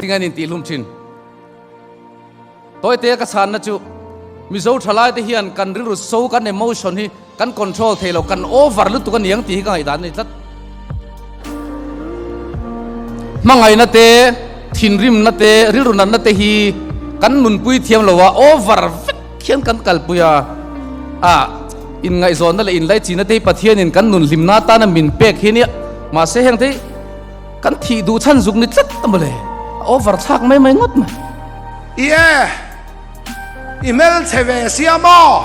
Tinga nin ti hlum thin. Toite ka san na chu Mizo thalai te hian kan rilru so kan emotion hi kan control thei lo kan over lutuk a niang ti hi ka ngai dan ni tlat. Mangai na te thinrim na te rilru nan na te hi kan nun pui thiam lo a over Khian kan kalpui a, a inngaihzawnna leh inlaichinna tei Pathianin kan nun hlimna atan a min pek hi nia. Mahse heng te kan thih duh chhan zuk ni tlat a mawle, a over chhak mai mai ngawt mai. I e, i hmelchhe ve si a maw?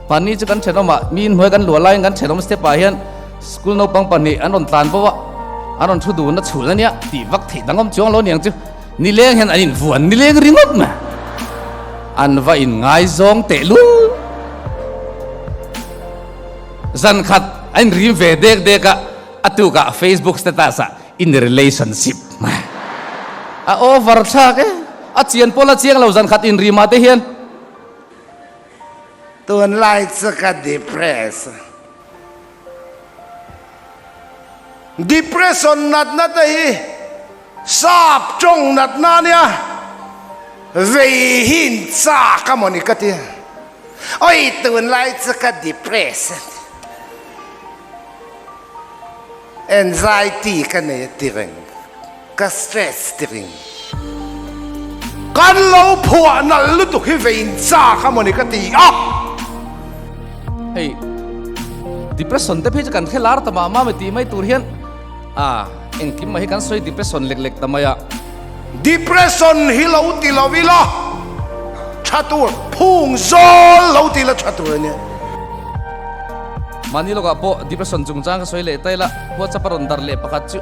Van ni chu kan thenawma mi inhnuai kan luah laiin kan thenawm step ah hian school naupang pahnih an rawn tlan bo a, an rawn thu dun a chhun a nia tih vak theih dangawm chuang lo niang chu nileng hian an invuan nileng ringawt mai an va in ngaizawng tehlul zan khat a inrim ve dek dek a a tukah facebook status ah in a relationship mai a over thlak e a chian pawh la chiang lo zan khat inrim ah te hian Tunlai chu ka depress a. Depression natna te hi sap tawng natna a nia. Vei hi in chak a maw ni ka ti a. Awi tunlai chu ka depress a ni. Anxiety ka nei a ti reng. Ka stress dik in kan lo phuah nalh lutuk hi vein chak a mawni ka ti a. Hei depression te phi chu kan khe lar ta mah mami tih mai tur hian a engkim mah hi kan sawi depression lek lek ta mai a. Depression hi lo ti lo ila tha tur phung zawl lo ti ila tha tur a nia. Mahni lawkah pawh depression chungchang ka sawi leh ta ila. Whatsapp a rawn dar leh pakhat chu.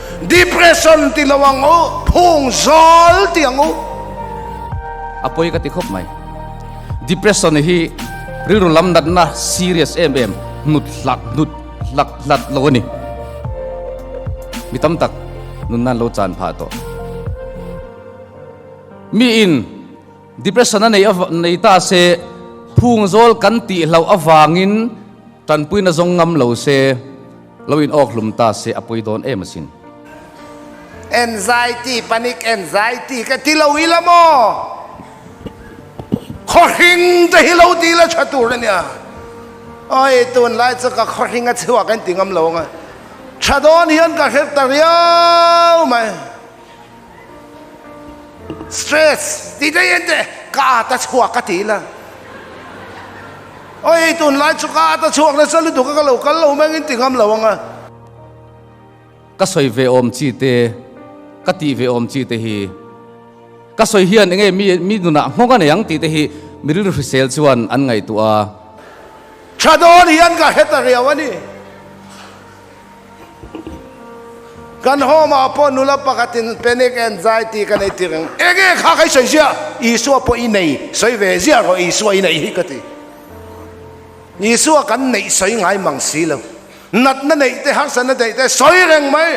Depression ti lo ang u, phung zawl ti ang u. A pawi ka ti khawp mai. Depression hi rilru lam natna serious em em hnut hlak hnut hlak hlat lo a ni. Mi tam tak nunna lo chan phah tawh. Mi in depression a nei a nei ta se phung zawl kan tih hloh avangin tanpuina zawng ngam lo se. Lo in awk hlum ta se a pui dawn em asin. Anxiety, panic, anxiety ka ti lo ila maw? Khawhring te hi lo ti la tha tur a nia. Awi tunlai chu ka khawhring a chhuak a inti ngam lo ang a. Tha dawn hian ka hre ta riau mai. Stress tih te hian te ka ata chhuak ka ti la aw hei tunlai chu ka ata chhuak nasa lutuk a ka lo kal lo mengin ti ngam lo ang a. Ka sawi ve awm chi te ka tih ve awm chi te hi ka sawi hian enge mi mi nunah nghawng a nei ang tih te hi mi rilru hrisel chuan an ngaihtuah a. Tha dawn hian ka hre ta riau a ni. Kan home ah pawh nula pakhatin panic anxiety ka nei tir ang. Eng nge kha ka i sawi ziah? Isua pawh i nei sawi ve ziah rawh, Isua i neih hi ka ti. Isua kan neih sawi ngai mang si lo. Natna neih te, harsa na neih te sawi reng mai.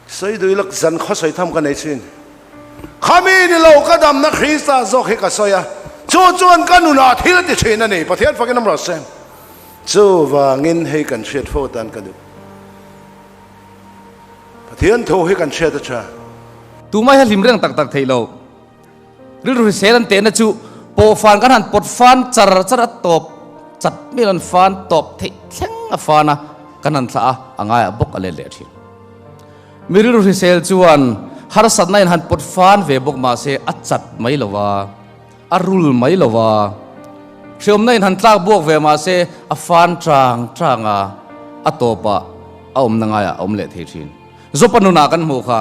Sawi dui lak zan khaw sawi tham ka nei chin. Kha mi ni lo ka damna Krista zawk hi ka sawi a, chu chuan ka nunah thil a ti thin a ni, Pathian fakin a mrawt se. Chuvangin hei kan hriat fo tan ka duh. Pathian thu hi kan hriat a tha. Tumai he hlim reng tak tak theih lo. Rilru hrisel an tehna chu pawh fan kan han pawt fan char char a tawp chat mial an fan tawp theih thleng a fan a kan han thlah a a ngaiah bawk a let leh thin. Mi rilru hrisel chuan harsatna in han pawt fan ve bawk mahse a chat mai lo va, a rul mai lo va, hreawmna in han tlak buak ve mahse a fan chang chang a, a tawpah a awmna ngaiah a awm leh thei thin. Zawpa nunah kan hmuh kha.